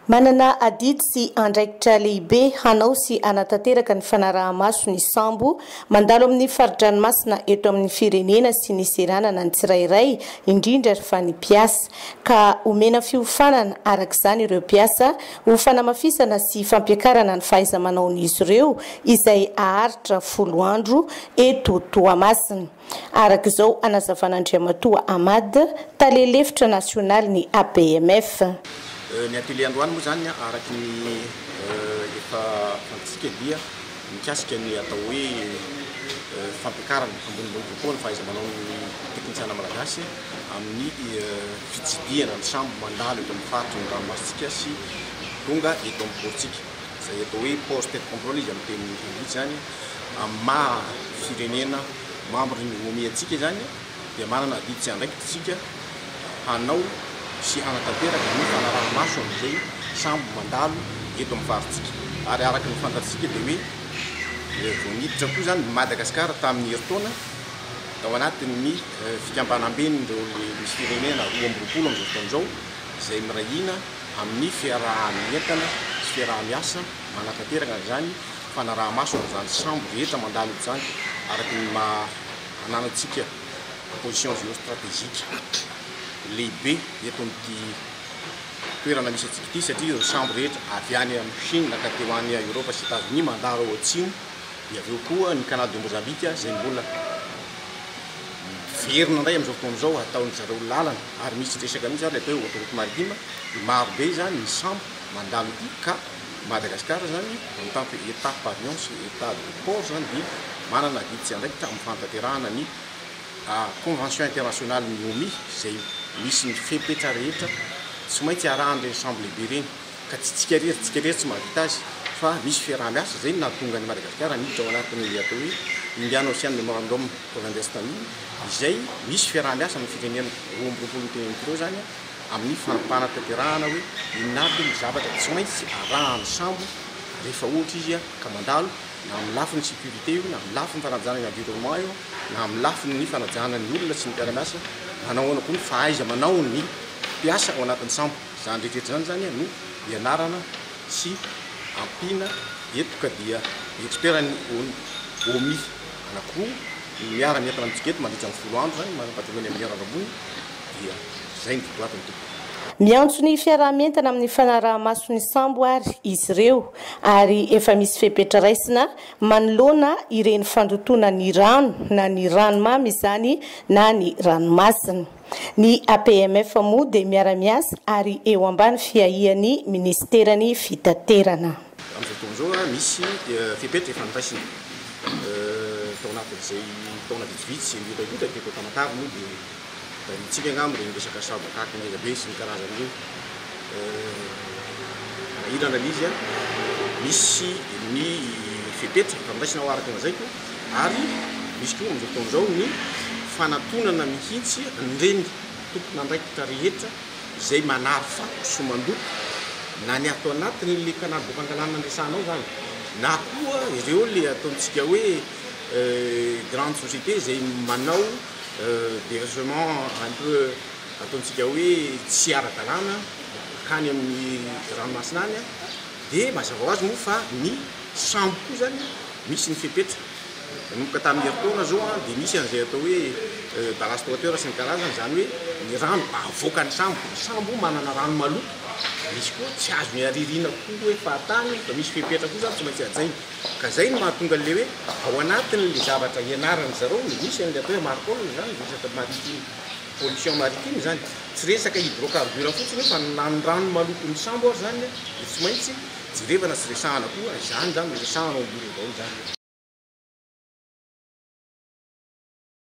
Manana adidy sy andraikitra lehibe hanao sy hanatanteraka ny fanaraha-maso ny sambo mandalo amin'ny fari-dranomasina eto amin'ny firenena sy ny seranana ny tsirairay, indrindra ary fa ny mpiasa. Ka omena fiofanana araka izany ireo mpiasa ho fanamafisana sy fampiakarana ny fahaiza-manaon'izy ireo izay haharitra folo andro eto Toamasina. araka izao anazavan'Andriamatoa Ahmad, tale lefitra nasionalin'ny ABMF. Ny atelier androany moa izany araka ny efa fantatsika dia mikasika ny atao hoe fampiakarana ambonimbony kokoa ny fahaiza-manaon'ny teknisiana malagasy amin'ny fitsidihana ny sambo mandalo eto amin'ny faritry ny ranomasintsika sy tonga eto amin'ny pôrtsika, izay atao hoe port state control izy amin'ny teny anglisy izany. amin'ny maha firenena membre ny OMI antsika izany dia manana adidy sy andraikitra isika hanao sy hanatanteraka ny fanaraha-maso an'izay sambo mandalo eto amin'ny farintsika ary araka ny fantatsika dia hoe vao niditra koa izany i Madagasikara tamin'ny herintaona tao anatin'ny fikambanamben'ireo misy firenena roa amby roapolo amin'izao fotoana izao izay miray hina amin'ny fiaraha-mientana sy fiaraha-miasa manatanteraka an'izany fanaraha-maso an'izany sambo rehetra mandalo eto izany araka ny maha ananantsika position géostratégique lehibe eto amin'ity toerana misy antsika ity satria ireo sambo rehetra avy any amin'ny Chine ka teo any Eoropa sy Etazonia mandalo ao Atsimo dia avy eo koa ny Canal de Mozambique izay mbola miverina indray amin'izao fotoana izao hataon'ny zareo lalana ary misy resaka mihitsy ary ilay atao hoe autoroute maritime dia maro be izany ny sambo mandalo ity ka Madagasikara izany en tant que Etat pavillon sy Etat de port izany dia manana adidy sy andraikitra amin'ny fanatanterahana ny convention internationalin'ny Omi izay misy ny fepetra rehetra tsy maintsy arahan'ireny sambo lehibe ireny ka tsy tsika irery tsika irery tsy mahavita azy fa misy fiaraha-miasa izay no nahatonga an'i Madagasikara miditra ao anatin'ny atao hoe Indian Ocean Memorandum of Understanding izay misy fiaraha-miasa amin'ny firenena roa amby roapolo miteny amin'ny telo izany amin'ny fanapahan-tanterahana hoe inona avy ny zavatra tsy maintsy arahan'ny sambo rehefa ohatra izy ka mandalo, na amin'ny lafiny sécurité io, na amin'ny lafiny fanajana ny environnement io, na amin'ny lafiny fanajana ny olona sy ny mpiara-miasa, na nahoana koa ny fahaiza-manaon'ny mpiasa ao anatin'ny sambo. Izany rehetra izany izany no ianarana sy ampiana eto ka dia expertn'ny OMI anankiroa no miara-mientana amintsika eto mandritra ny folo andro izany, mampahatsiahy an'i Amignera Rambony, dia izay ny votoatiny tompoko. Miantso ny fiaraha-mientana amin'ny fanaraha-maso ny sambo àry izy ireo, ary efa misy fepetra raisina manoloana ireny fandotoana ny rano na ny ranomamy izany na ny ranomasina. Ny APMF moa dia miara-miasa ary eo ambany fiahian'ny minisiteran'ny Fitaterana. Amin'izao fotoana izao, misy fepetra efa noraisina tao anatin'izay taona vitsivitsy mihotahihotra teto Tamatave moa dia. Raha ny antsika angamba dia ny resaka sabo akaka ngeza be sy ny karazany ireo. Raha io ny analyse an, misy ny fepetra fandraisana ho araka ny lazaiko ary misy koa amin'izao fotoana izao ny fanatonana mihitsy an'ireny tompon'andraikitra rehetra izay manafa sy mandoko na ny ato anatiny ilay canal de Pangalana niresahana ao izany na koa ireo ilay ataontsika hoe grande société izay manao Dergement un peu ataontsika hoe tsy ara-dalàna akany amin'ny ranomasina any dia mazava ho azy moa fa ny sambo koa izany misy ny fepetra. Nanomboka tamin'ny herintaona izao dia misy an'izay atao hoe ballast water sy ny karazany, izany hoe ny rano avoakan'ny sambo. Ny sambo manana rano maloto, misy koa tsy azony aririna koa hoe fahatany fa misy fepetra koa izany tsy maintsy hajaina. Ka zay no mahatonga an'le hoe ao anatin'le zavatra ianaran'ny zareo no misy an'le atao hoe marpol zany, resaka maritime, pollution maritime zany. Tsy resaka hydrocarbure fotsiny io fa ny ranondrano maloton'ny sambo ary zany dia tsy maintsy jerevana sy resahana koa izany zany no resahana ao am-bory avao izany.